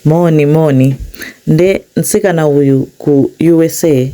Moni moni ndi mtsikana uyu ku USA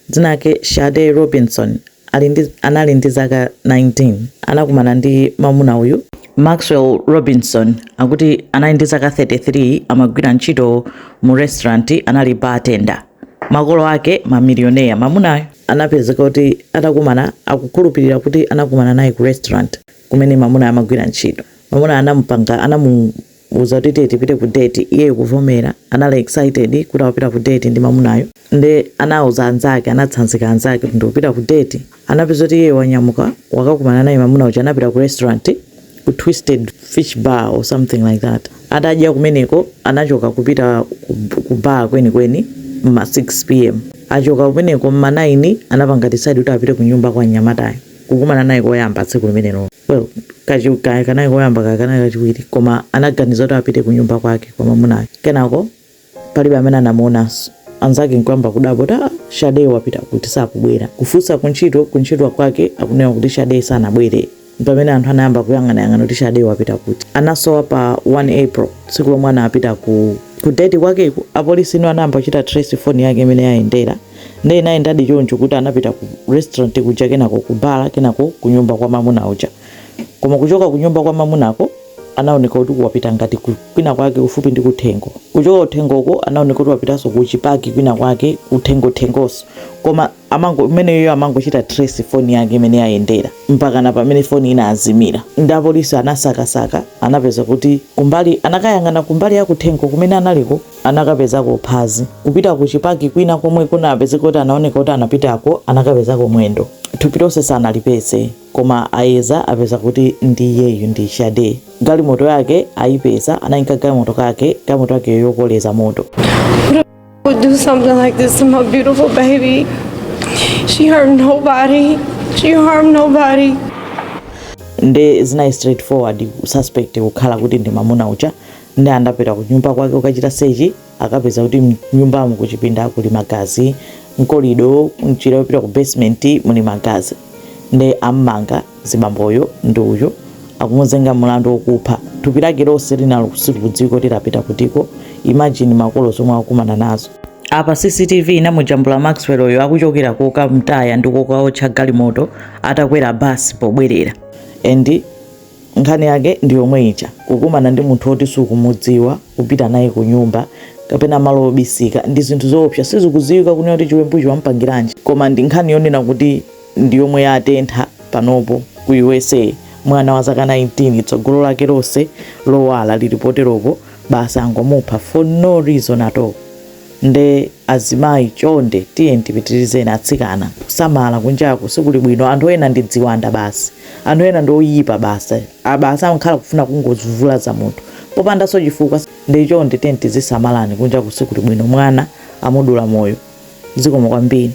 dzina lake Shade Robinson ali ndi anali ndi zaka 19 anakumana ndi mamuna uyu, Maxwell Robinson akuti anali ndi zaka 33 amagwira ntchito mu restaurant anali bar tender makolo ake ma millionaire mamunayo anapezeka kuti atakumana akukhulupilira kuti anakumana naye ku restaurant kumene mamunayo amagwira ntchito mamunayo anamupanga anamu Uza kuti tiye tipite ku date iyeyo kuvomera anali excited kuti akupita ku date ndi mamunayo nde anauza anzake anatsanzika anzake kuti ndikupita ku date anapezeka kuti iyeyo wanyamuka wakakumana naye mamuna uja anapita ku restaurant ku twisted fish bar or something like that atadya kumeneko anachoka kupita ku, ku bar kwenikweni mma 6 pm achoka kumeneko mma 9 anapanga decide kuti apite ku nyumba kwa mnyamatayo kukumana naye koyamba tsiku limenelo Well kachiw kaya kanali koyamba kaya kanali kachiwiri koma anaganiza kuti apite kunyumba kwake kwa mamunayo kenako palibe amene anamuonanso anzake nkuyamba kudabwa kuti aa shadee wapita kuti sakubwera kufunsa kuntchito kuntchito kwake akunena kuti shadee sanabwere mpamene anthu anayamba kuyang'anayang'ana kuti shadee wapita kuti anasowa pa 1 april tsiku lomwe anapita ku ku date kwakeko apolisi ino anayamba kuchita trace phone yake mmene yayendera nde inayendadi choncho kuti anapita ku restaurant kuja kenako ku bala kenako ku nyumba kwa mamuna uja koma kuchoka ku nyumba kwa mamunako anaoneka kuti wapita ngati kwina kwake kufupi ndi kuthengo kuchoka kuthengo uko anaoneka kuti wapitanso ku chipaki kwina kwake kuthengo thengoso koma amango imeneyo amangochita trace foni yake mmene yayendera mpaka na pamene foni inazimira nde apolisi anasakasaka anapeza kuti kumbali anakayang'ana kumbali ya kuthengo kumene analiko anakapezako phazi. Kupita ku chipaki kwina komwe kunapezeka kuti anaoneka kuti anapitako anakapezako mwendo. Thupi lonse sanalipeze koma ayeza apeza kuti ndi iyeyu ndi Shade. Galimoto yake ayipeza anayika galimoto kake galimoto yake yokoleza moto. would do something like this to my beautiful baby. She hurt nobody. She harmed nobody. nde zinayi straightforward suspect kukhala kuti ndi mamuna uja Nde atapita kunyumba kwake kukachita search akapeza kuti mnyumbamo kuchipinda kuli magazi, mkolido, mnjira yopita ku basement muli magazi. Nde ammanga zibamboyo ndi uyu akumuzenga mulandu okupha. Thupi lake lonse lina silikudziwika kuti lapita kutiko. Imagine makolo zomwe akukumana nazo. Apa CCTV inamujambula Maxwell yo akuchokera kokamtaya ndi kokaotcha galimoto atakwera bus pobwerera and Nkhani yake ndi yomwe ija, kukumana ndi munthu woti sukumudziwa, kupita naye kunyumba kapena malo obisika, ndi zinthu zoopsa. Sizikudziwika kunena kuti chiwembuchi wamupangiranji, koma ndi nkhani yonena kuti ndi yomwe yatentha panopo ku USA. Mwana wa zaka 19, tsogolo lake lonse lowala lili poteropo basi angomupha for no reason at all. Nde azimayi chonde tiyeni tipitirizeni atsikana kusamala kunjaku sikuli bwino anthu ena ndi dziwanda basi anthu ena ndi oyipa basi basi amakhala kufuna kungozvulaza munthu popandaso chifukwa nde chonde tiyeni tizisamalani kunjaku sikuli bwino mwana amudula moyo zikomo kwambiri.